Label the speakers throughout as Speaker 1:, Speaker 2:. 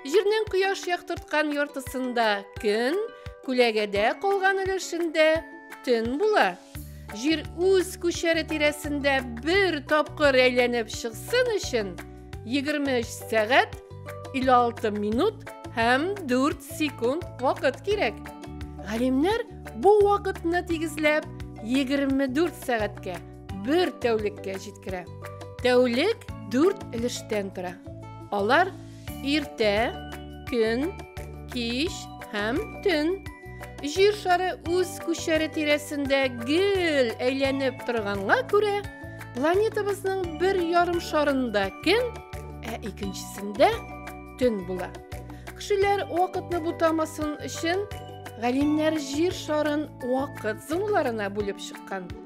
Speaker 1: Җирнең кояш яктырткан яртысында көн, күләгәдә калган өлешендә төн була. Җир үз күчәре тирәсендә бер тапкыр әйләнеп чыксын өчен 23 сәгать 56 минут һәм 4 секунд вакыт кирәк. Галимнәр бу вакытны тигезләп 24 сәгатькә бер тәүлеккә җиткерә. Тәүлек дүрт өлештән тора. Алар иртә, көн, кич һәм төн. Җир шары үз күчәре тирәсендә гел әйләнеп торганга күрә, планетабызның бер ярым шарында көн, ә икенчесендә төн була. Кешеләр вакытны бутамасын өчен галимнәр җир шарын вакыт зоналарына бүлеп чыккан.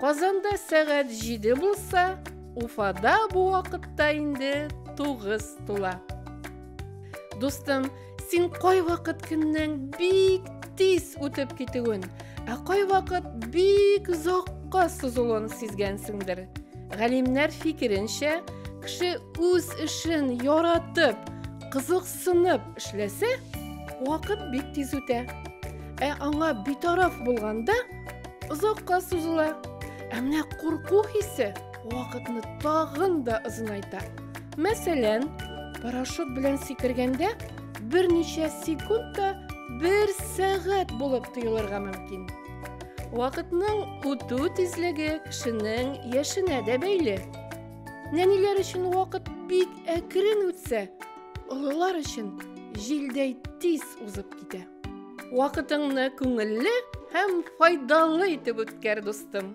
Speaker 1: Казанда сәгать җиде булса, Уфада бу вакытта инде тугыз тула. Дустым, син кайвакыт көннең бик тиз үтеп китүен, ә кайвакыт бик озакка сузылуын сизгәнсеңдер. Галимнәр фикеренчә, кеше үз эшен яратып, кызыксынып эшләсә, вакыт бик тиз үтә. Ә аңа битараф булганда, озакка сузыла. Ә менә курку хисе вакытны тагын да озынайта. Мәсәлән, парашют белән сикергәндә берничә секунд та бер сәгать булып тоелырга мөмкин. Вакытның үтү тизлеге кешенең яшенә дә бәйле. Нәниләр өчен вакыт бик әкрен үтсә, олылар өчен җилдәй тиз узып китә. Вакытыңны күңелле һәм файдалы итеп үткәр, дустым!